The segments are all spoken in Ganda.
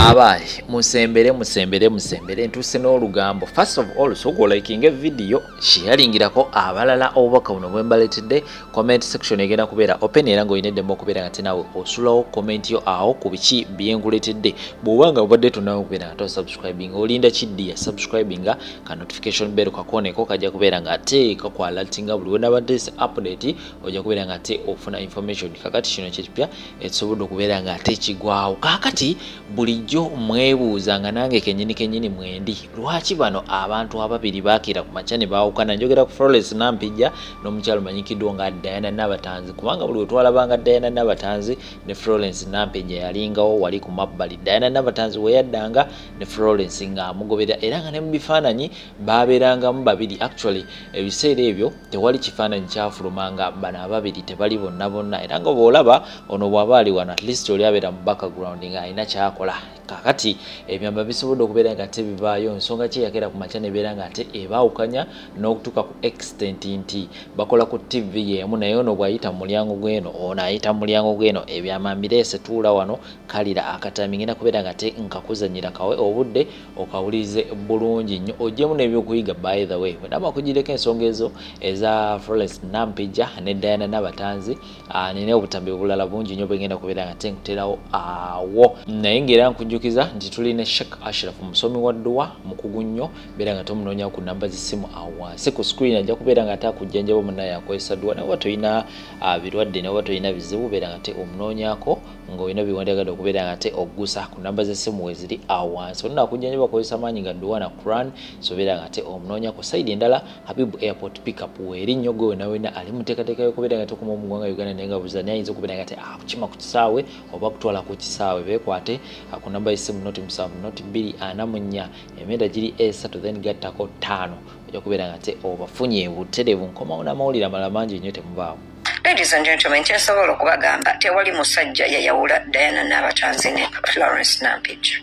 abaali musembere musembere musembere ntuuse n'olugambo first of all soka olakinga evidiyo sheyaringirako abalala obubaka buno bwembaletedde comment section egenda kubeera open era ng'olina eddembe okubeera nga tinawe osulawo comment yo awo ku biki byenguletedde bw'oba nga obadde tonawe okubeera nga tosubscribing olinda kiddi ya subscribing nga ka notification bell kakooneko kajja kubeera nga ate kakwalatinga buli wenabadde si update ojja kubeera nga ate ofuna information kakati kino kyekipya ekisobodde okubeera nga ate kigwawo kakati bulijjo mwebuuza nga nange kenyini kenyini mwendi lwaki bano abantu ababiri bakira ku makya ne baawukana njogera ku flores nampijja n'omukyalo manyikiddwa nga diana nabatanzi kubanga buli wetwalabanga diana nabatanzi ne florence nampeja yalingawo wali ku mabbali diana nabatanzi weyaddanga ne florence nga amugobera era nga ne mu bifaananyi baabeerangamu babiri actually ebiseera ebyo tewali kifaananyi kyafuluma nga bano ababiri tebali bonna bonna era nga bwolaba ono bwaba ali wano at least oli abeera mu background nga alina kyakola kakati ebyamba bisobodde okubeera nga ate bivaayo nsonga kyeyagera ku makya nebeera nga ate ebaawukanya n'okutuuka ku extent nti bakola ku tv yeemu naye ono bw'ayita mu mulyango gw'eno ono ayita mu mulyango gw'eno ebyama mbireese tuula wano kalira akatami ngenda kubeera nga ate nkakuzanyira kawe obudde okawulirize bulungi nnyo ogyemu n'ebyokuyiga by the way wenaba kugireko ensonga ezo eza florence nampija ne diana nabatanzi Ah, nina obutambi obulala bungi nyo bwengenda kubeera nga tenkuterawo awo naye ngaera nkujjukiza nti tuli ne shek ashraf musomi wa dduwa mukugu nnyo beera nga tomunoonya ku namba zisimu awo wansi ku screen ajja kubeera nga ate akujjanjaba munaye akozesa dduwa naye oba tolina ah, birwadde naye oba tolina bizibu beera nga te omunoonyako ngaolina biwandiagadde okubeera nga te ogusa ku namba zesimu weziri awo wansi olina akujjanjaba akozesa maanyi ga dduwa na quran so beera nga te omunoonyako saidi endala Habib Airport pickup weeri nnyo gwe wena wena ali muteekateeka y'okubeera nga tokoma mu ggwanga Uganda naye nga buza naye ayinza okubeera nga te akukima ah, ku kisaawe oba kutwala ku kisaawe beekwate ah, ku namba y'essimu noti musanvu noti bbiri ana mu nnya emyenda giri esatu then gattako ttaano ojja kubeera nga te obafunye butereevu nkomawo n'amawulire amalala mangi nnyo temubaawo Ladies and gentlemen, kyensobola okubagamba tewali musajja yayawula Diana Nabatanzi ne Florence Nampijja.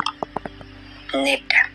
Nedda.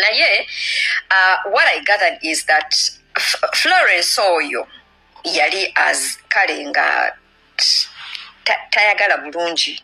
naye uh, what i gathered is that florence oyo yali as kale nga tayagala bulungi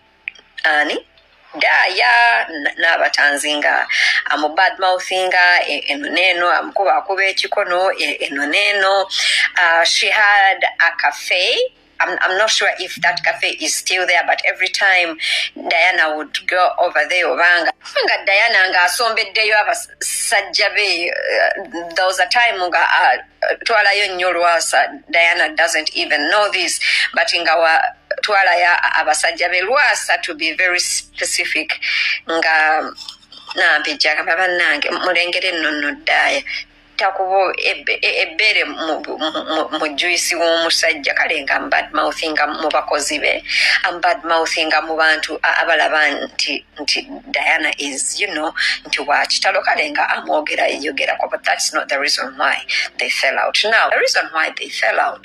ani daaya n'abatanzi nga amubad mouthinga e, eno neeno amukuba akuba ekikono e, eno neeno uh, she had a cafe I'm, I'm not sure if that cafe is still there, but every time Diana would go over there, Obanga, nga Diana nga asombeddeyo abasajja be, uh, there was a time nga uh, twalayo nnyo lwasa Diana doesn't even know this, but nga wa twalayo abasajja be lwasa to be very specific nga nampi jagamba bannange mulengere nno nno ddaaya takubo ebbere mu juisi w'omusajja kale nga mbadmouthinga mu bakozi be ambadmouthinga mu bantu abalaba nti nti diana is you know nti wakitalo kale nga amwogera eyogerako but that's not the reason why they fell out now the reason why they fell out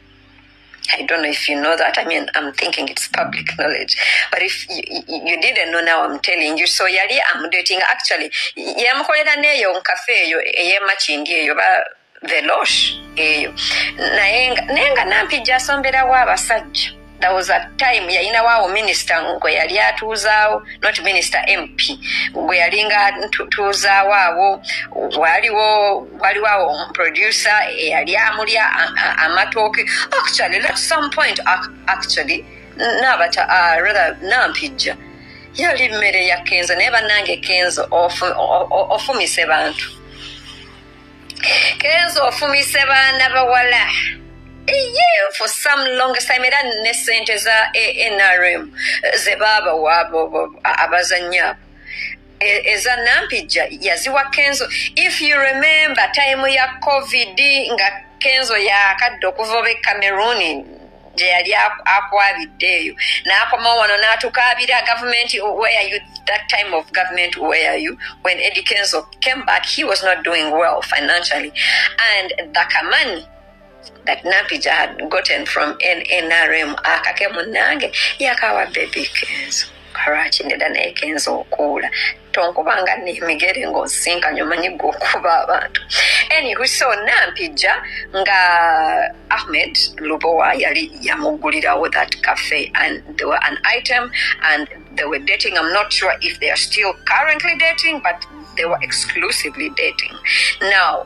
I don't know if you know that. I mean, I'm thinking it's public knowledge. But if you, you didn't know now, I'm telling you. So yali I'm dating actually. Yamukolera neyo nkafe eyo eyema chindi eyo ba velosh eyo. Naye nga nampija sombera wa basajja. there was a time yayinawo awo minisita gwe yali atuuzaawo not minisita mp gwe yalinga tuuzaawo awo waliwo waliwo awo omuproducer eyali amulya amatooke actually at some point actually nabata uh, rather nampijja yali mmere ya kenzo naye bannange kenzo ofumise bantu kenzo ofumise baana bawala ye for some long time era ne sente za anrm ze baabawa abazannya abo E, eza nampijja yaziwa kenzo if you remember time ya covid nga kenzo yakadde okuva obe cameroon gye yali akwabidde eyo n'akomawo wano n'atukaabira gavumenti where you that time of government where you when eddie kenzo came back he was not doing well financially and the kamani that nampija had gotten from nnrm akake munnange yakawa bebi kenzo kalwaki ndeda naye kenzo okuula tonkubanga nemigere ngaosinkanye omanyi gwe okuba abantu anywho so nampijja nga ahmed lubowa yali yamuggulirawo that cafe and there were an item and they were dating i'm not sure if they are still currently dating but they were exclusively dating now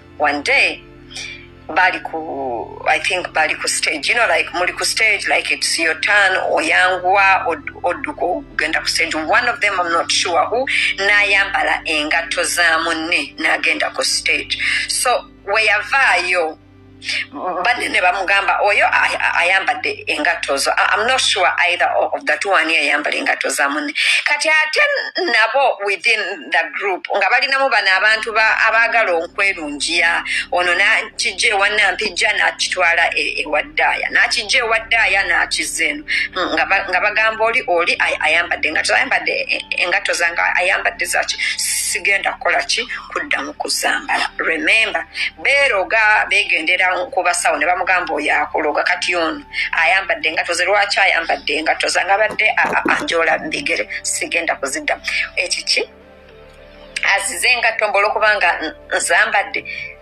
one day bali ku i think bali ku stage you know like muli ku stage like it's your turn oyanguwa odduka ogenda ku stage one of them i'm not sure who nayambala engatto za munne nagenda ku stage so weyavaayo banne ne bamugamba oyo ayambadde engatto zo am not sure either of the two ani yayambala engatto za munne kati ate nabo within the group nga balinamu bano abantu abaagala okwerungiya ono nakijja ewanampijja nakitwala e, ewaddaaya nakijja ewaddaaya nakiza eno nga bagamba oli oli ayambadde engatto ayambadde engatto zanga ayambadde zaki sigenda kukola ki kudda mu kuzambala remembe beeroga begendera ku basawo ne bamugamba oyo akuloga kati ono ayambadde engato ze lwaki ayambadde engato zange abadde anjola mbigere sigenda kuzidda ekiki azize engatto mbola okubanga nzambadde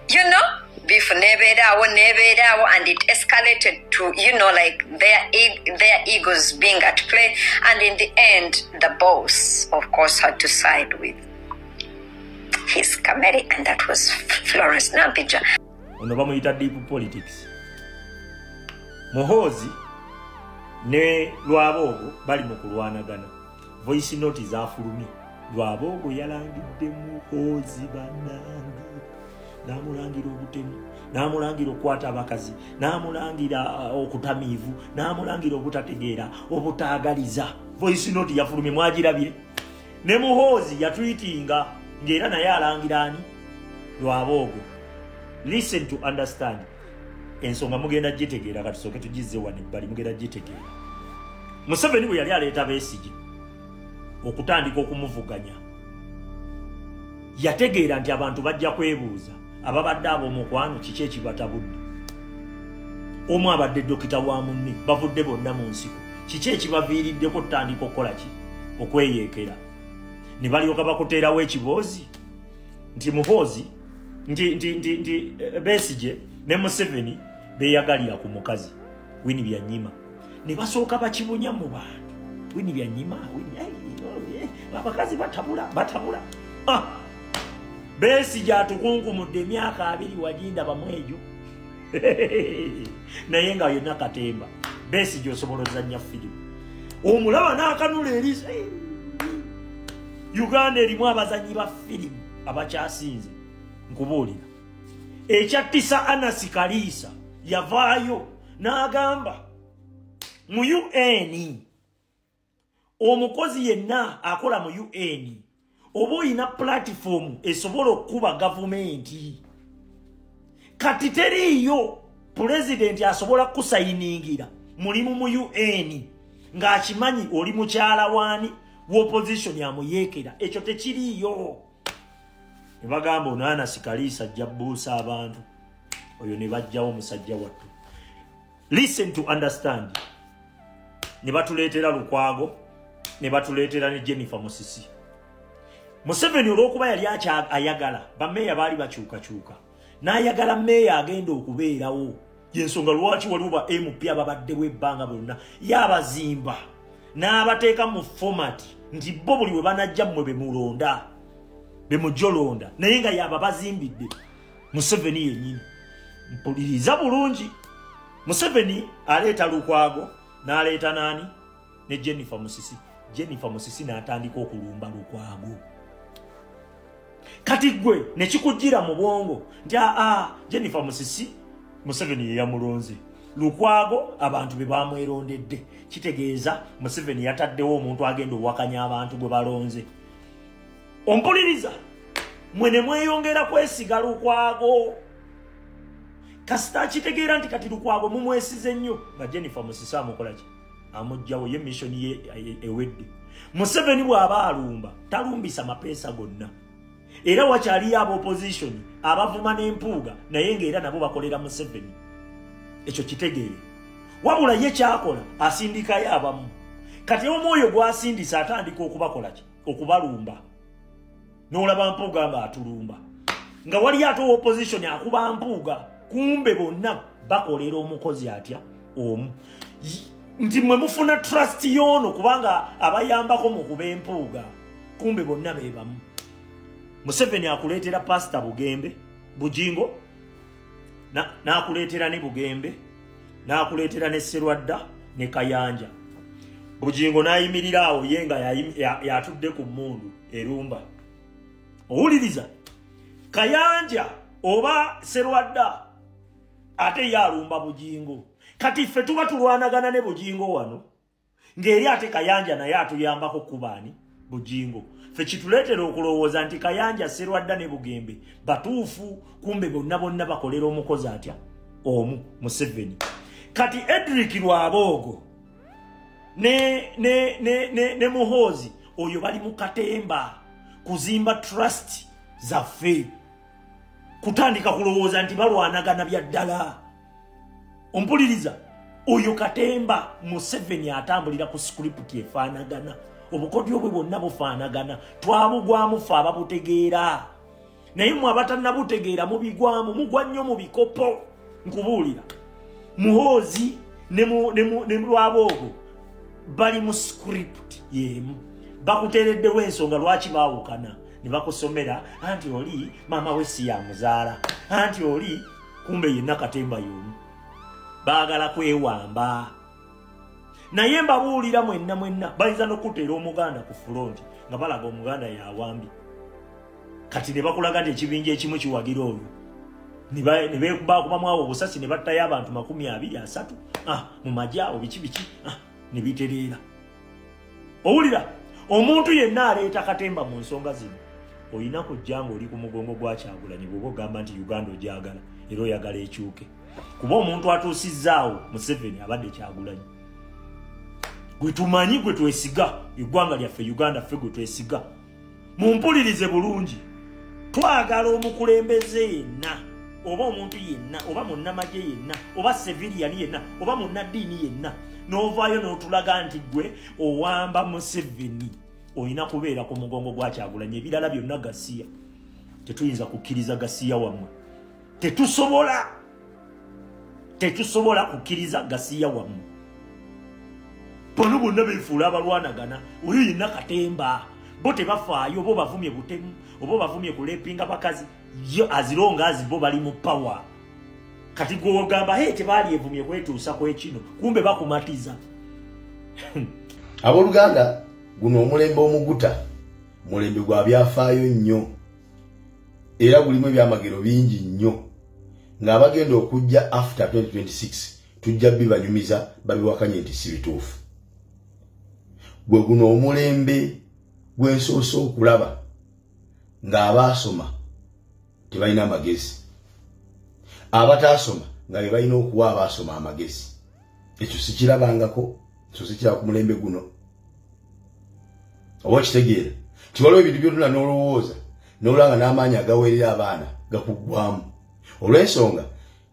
you know beef nebeeraawo nebeeraawo and it escalated to you know like their, e their egos being at play and in the end the boss of course had to side with his kamere and that was florence nampija ono bamuyita deep politics muhoozi ne lwaboogo bali mu kulwanagana voice note zafulumye lwaboogo yalangidde muhoozi banange namulangira obutemu namulangira okukwata abakazi namulangira uh, okutamiivu namulangira obutategeera obutaagaliza voice note yafulumye mwagirabye ne muhoozi yatwitinga ng'era naye alangira ani lwaboogo listen to understand ensonga mugenda gitegeera katusooke tugizze wano ebbali mugenda gitegeera museveni bwe yali aleeta beesigi okutandika okumuvuganya yategeera nti abantu bajja kwebuuza ababadde ab'omukwano kiki ekibatabudde omu abadde dokita wa munne bavudde bonna mu nsiko kiki ekibaviiriddeko tutandika okukola ki okweyeekera ne balyoka bakuteerawo ekiboozi nti muhoozi nti nti nti nti eh, besije ne museveni beyagalira ku mukazi wini byanyima ne basooka bakibunya mu bantu wini byanyima abakazi batabula batabula ah! besi gyatukunkumudde emyaka abiri wagindabamwe egyo naye nga yonna katemba besi gyosobola ozanya firimu omulaba n'akanula eri uganda erimu abazanyi ba firimu abakyasinze nkubuulira ekyattisa anasi kaliisa yavaayo n'agamba mu un omukozi yenna akola mu un oba olina pulatifoomu esobola okukuba gavumenti kati teriiyo pulezidenti asobola kukusayiningira mulimu mu un ng'akimanyi oli mukyala waani wopozisoni amuyeekera ekyo tekiriiyo ne bagamba onaanasi kaliisa ajja buusa abantu oyo ne bajjawo omusajja wattu listen to understand ne batuleetera lukwago ne batuleetera ne jennifer musisi museveni olw'okuba yali ayagala bameeya baali bakyukakyuka n'ayagala meeya agenda okubeerawo yensonga lwaki waliwo ba mp ababaddewo ebbanga bonna yabazimba n'abateeka mu fomati nti bo buli we banajja mmwe bemulonda bemujolonda naye nga yaba bazimbidde museveni yenyini mpuliriza bulungi museveni aleeta lukwago n'aleeta naani ne jennifer musisi jennifer musisi n'atandika okulumba lukwago kati gwe ne kikujjira mu bwongo nti aa ah, ah, jennifer musisi museveni ye yamulonze lukwago abantu be bamwerondedde kitegeeza museveni yataddewo omuntu agenda owakanya abantu gwe balonze ompuliriza mwe ne mweyongera kwesiga lukwago kasita akitegeera nti kati lukwago mumwesize nnyo nga jennifer musisi amukolaki amujjawo ye mission ye ewedde museveni bw'aba alumba talumbisa mapeesa gonna era wakyaliyo aba opposition abavuma n'empuuga naye ng'era nabo bakolera museveni ekyo kitegeere wabula ye kyakola asindikayo abamu kati omwoyo gwasindisa atandika okubakolaki okubalumba nolaba mpuuga nga atulumba nga waliyo ate opposition akuba mpuuga kumbe bonna bakolera omukozi atya omu nti mwe mufuna trust yoono kubanga abayambako mu kuba empuuga kumbe bonna bebamu museveni akuleetera pasita bugembe bujingo n'akuleetera ne bugembe n'akuleetera ne serwadda ne kayanja bujingo n'ayimirira awo ye nga yatudde ku mmundu erumba owuliriza kayanja oba serwadda ate ye alumba bugingo kati ffe tuba tulwanagana ne bugingo wano ng'eri ate kayanja naye atuyambako kubaani bugingo ffe kituleetera okulowooza nti kayanja serwadda ne bugembe batuufu kumbe bonna bonna bakolera omukozi atya omu museveni kati edrik lwaboogo ne ne ne ne ne muhozi oyo bali mu katemba kuzimba trust zaffe kutandika kulowooza nti balwanagana bya ddala ompuliriza oyo katemba museveni atambulira ku sikuriputi efaanagana obukodyo bwe bwonna bufaanagana twabugwamufe ababutegeera naye mwe abatannabutegeera mubigwamu mugwa nnyo mu bikopo nkubuulira muhoozi ne lwaboogo bali mu script yemu bakuteereddewo ensonga lwaki baawukana ne bakusomera anti oli maama we si yamuzaala anti oli kumbe yenna katemba yomu baagala kwewamba naye mbabuulira mwenna mwenna bayinza nokuteera omuganda ku fulonti nga balaga omuganda yawambi kati ne bakulaga nti ekibinja ekimu kiwagira olwo nebakubamuawo obusasi ne battayo abantu makumi abiri asatu ah, mu maji awo biki biki ah, ne bitereera owulira omuntu yenna aleeta katemba mu nsonga zino olina kujja nga oli ku mugongo gwakyagulanyi bwoba ogamba nti uganda ogyagala era oyagala ekyuke kuba omuntu atuusizzaawo museveni abadde kyagulanyi gwe tumanyi gwe twesiga eggwanga lyaffe uganda ffe gwe twesiga mumpulirize bulungi twagala omukulembeze yenna oba omuntu yenna oba munnamagye yenna oba seviriyani yenna oba munnaddiini yenna n'ovaayo n'otulaga nti gwe owamba museveni olina kubeera ku mugongo gwakyagulanya ebirala byonna gasiya tetuyinza kukkiriza gasiya wammwe tetusobola tetusobola kukkiriza gasiya wamu bano bonna befuula abalwanagana oyo yenna katemba bo tebafaayo oba obavumye butemu oba obavumye kulepinga bakazi yo azironga azi bo bali mu pawa kati gwogamba he tebalyevumye kwetuusa kwekino kumbe bakumatiza abooluganda guno omulembe omuguta mulembe gwa byafaayo nnyo era gulimu ebyamagero bingi nnyo ng'abagenda okujja after 2026 tujja bibanyumiza babiwakanye nti si bituufu gwe guno omulembe gwensoose okulaba ng'abaasoma tebalina amagezi abataasoma nga be balina okuwa abaasoma amagezi ekyo sikirabangako ekyo sikira ku mulembe guno oba okitegeera nti waliwo ebintu byotuna n'olowooza n'olanga n'amaanyi agaweerera abaana gakuggwamu olw'ensonga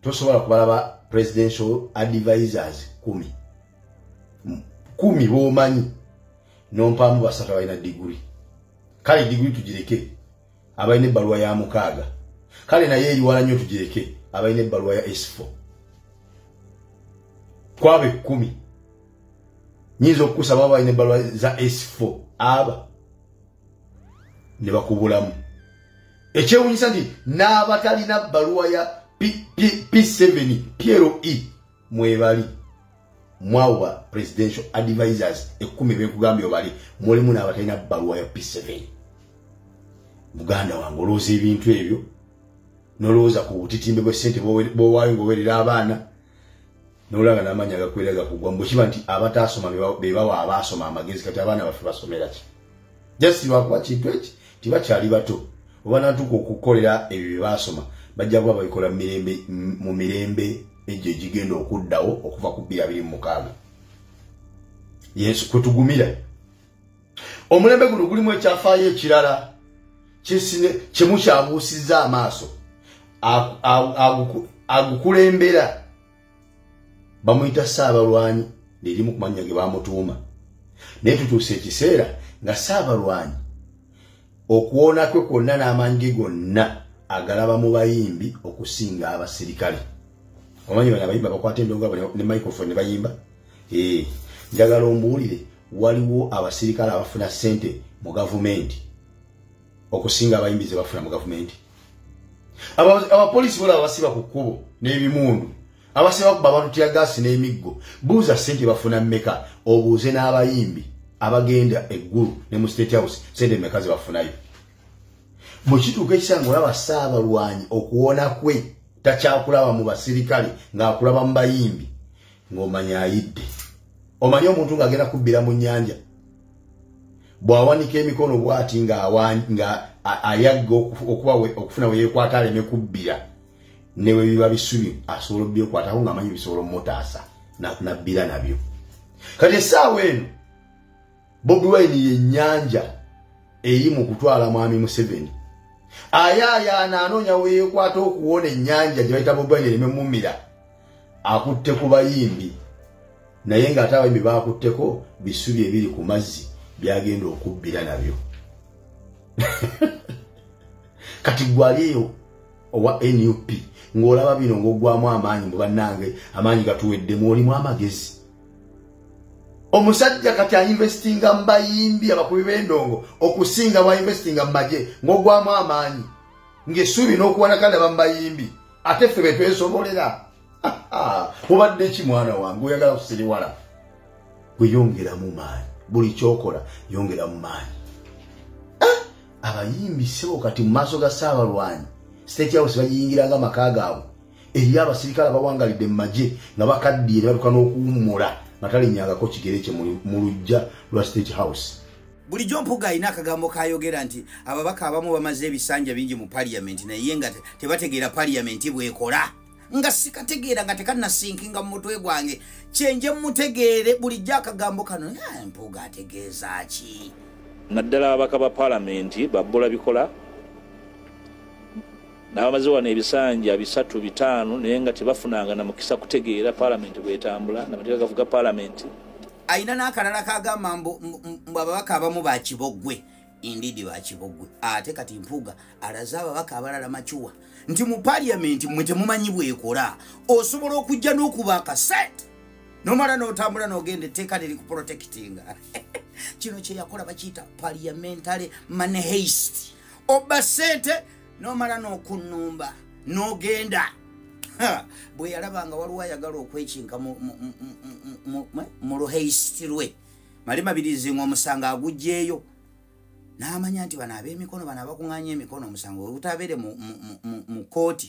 tosobola kubalaba presidential advisors kumi kumi b'omanyi n'ompaamu basatu abalina diguli kale diguli tugireke abalina ebbaluwa ya mukaaga kale naye eriwala nnyo tugireke abalina ebbaluwa ya esifo kwabo ekkumi nyinza okukusaba aba balina ebbaluwa za esifo aba ne bakubulamu ekyewunyisa nti n'abatalina bbaluwa ya p7 ploe mwebali mwawa presidential advisors ekumi benkugambye obali mulimu n'abatalina bbaluwa ya p7 muganda wange olowooza ebintu ebyo nolowooza ku butitimbe bwe sente bwowaayo ngaowerera abaana nolanga namanya gakwera gakugwa mbukiba nti abataasoma bebawa abaasoma amagezi kati abaana baffe basomeraki just lwakuba kintu eki tibakyali bato oba natuuka okukolera ebyo bye baasoma bajja kuba babikola mu mirembe egyo egigenda okuddawo okuva ku bbiri abiri mu mukaaga yesu kwe tugumira omulembe guno gulimu ekyafaayo ekirala kyesine kye mukyabuusizza amaaso agukulembera bamuyita saabalwanyi lirimu ku mannya ge bamutuuma naye tutuusa ekiseera nga saabalwanyi okuwoona kwe kwonna n'amaanyi ge gonna agalaba mu bayimbi okusinga abasirikale omanyi bana abayimbi abakwata endonga ne microphone ne bayimba ee njagala ombuulire waliwo abasirikale abafuna ssente mu gavumenti okusinga abayimbi ze bafuna mu gavumenti abapoliisi bolaba basiba ku kkubo n'ebimundu abasiba kuba abantu tyagaasi n'emiggo buuza sente bafuna meka obuuze n'abayimbi abagenda eggulu ne mu state house sente meka ze bafunayo bwe kituuka ekisanga olaba saabalwanyi okuwona kwe takyakulaba mu basirikale ng'akulaba mu bayimbi ng'omanya ayidde omanye omuntu ng'agenda kubbira mu nnyanja bw'awanika emikono bw'ati nga ayagga okuba okufuna we yeekwata aleme kubbira ne bwe biba bisubi asobola obyekwatako ng'amanyi bisobola omumutaasa nabbira nabyo kati essaawa eno bobi wine yennyanja eri mu kutwala mwami museveni ayaayaana anoonya we yeekwata okuwona ennyanja gye bayita bobi wine ereme mumira akutte ku bayimbi naye ng'ate abayimbi baakutteko bisubi ebiri ku mazzi byagenda okubbira nabyo kati gwali eyo owa nup ng'olaba bino ng'oggwamu amaanyi mu bannange amaanyi gatuweddemu olimu amagezi omusajja kati ainvestinga mu bayimbi abakubi b'endongo okusinga bwainvestinga mu magye ng'oggwamu amaanyi ng'esuubi n'okuwanakala bamubayimbi ate ffe betwesobolera mubadde ki mwana wange oyagala kusiriwala weyongeramu maanyi buli kyokola yongeramu maanyi ah! abayimbi sebo kati mu maaso ga saabalwanyi state house bagiyingira nga maka gaabwe eriyo abasirikale abawangalidde mu magye nga bakaddiye ne batuka n'okuwummula nga talinyangako kigere kye mu lujja lwa state house bulijjo mpuga alina akagambo kayogera nti ababaka abamu bamaze ebisanja bingi mu paliyamenti naye nga tebategeera paliyamenti bwekola nga sikategeera nga tekanasinkinga mu mutwe gwange kyenje mutegeere bulijjo akagambo kano mpuga ategeeza ki naddala ababaka ba palamenti babbula bikola n'abamaze wano ebisanja bisatu bitaano naye nga tebafunanga na mukisa kutegeera paalamenti bwetambula namateeka gavuga paalamenti alina n'akalala kagamba mbu ababaka abamu bakiboggwe indiidi bakiboggwe ate kati mpuuga alaze ababaka abalala macuwa nti mu paliamenti mwe temumanyi bwekola osobola okujja n'okuba akaset nomala n'otambula n'ogenda etteeka liri ku protectinga kino kyeyakola bakiyita paliamentary manheist obba sente n'omala n'okunnumba n'ogenda bwe yalaba nga waliwo ayagala okwekinka mu luheisiti lwe mali mabirizi nga omusango agugyeyo n'amanya nti bano ab'emikono bano abakuŋanya emikono omusango webutabeere mu kooti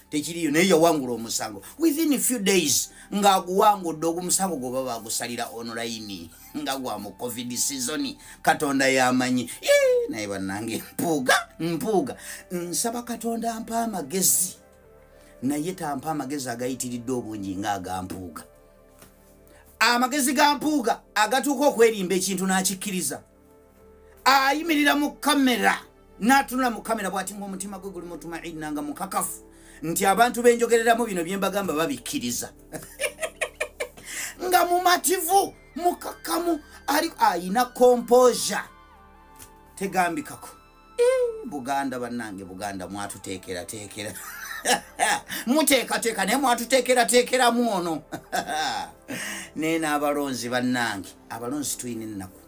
tekiriyo naye yawangula omusango within few days ng'aguwangudde ogumusango gwoba bagusalira online nga gwa mu covid season katonda yamanyi naye bannange mpuuga mpuuga nsaba katonda mpa amagezi naye tampa amagezi agayitiridde obungi ng'agampuuga amagezi ga mpuuga agatuuka okwerimba ekintu n'akikkiriza ayimirira mu kamera n'atunula mu kamera bw'ati ng'omutima gwe guli mutuma inna nga mukakafu nti abantu benjogereramu bino bye mbagamba babikkiriza nga mumativu mukakamu ali ayina kompoza tegambikako buganda bannange buganda mwatuteekerateekera muteekateeka naye mwatuteekerateekeramu ono naye n'abalonzi bannange abalonzi tulina ennaku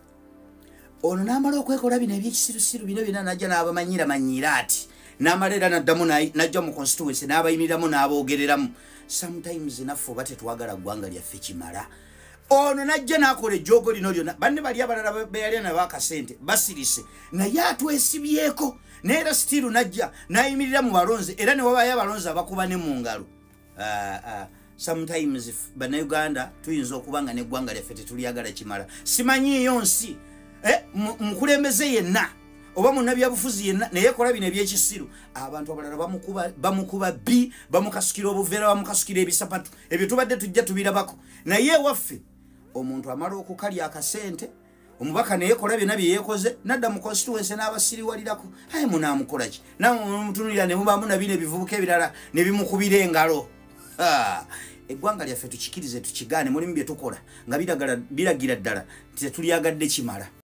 ono n'amala okwekola bino ebyekisirusiru bino byona najja n'abamanyira manyiira ati n'amala era naddamu najja mu constituency n'abayimiriramu n'aboogereramu sometimes naffe oba tetwagala ggwanga lyaffe kimala ono najja nakola ejjoogo lino lyona banne bali abalala beyalya nabo akasente basirise naye atwesibyeko naye era sitiiru najja nayimirira mu balonzi era newabayo abalonzi abakuba ne mu ngalo ah, ah. sometimes banauganda tuyinza okuba nga neggwanga lyaffe tetulyagala kimala simanyiiyo nsi eh, mukulembeze yenna oba munabyabufuzi yenna naye kola bino ebyekisiru abantu abalala bamukuba bi bamukasukira obuveera bamukasukira ebisapatu ebyo tubadde tujja tubirabako naye ewaffe omuntu amala okukalya akasente omubaka neyekola byona byeyekoze nadda mu constituency n'abasiriwalirako aye munaamukolaki nawe omutunulira ne mubaamu nabina ebivubuka ebirala ne bimukubira engalo eggwanga lyaffe tukikirize tukigaane mulimu bye tukola nga biragira ddala nti tetulyagadde kimala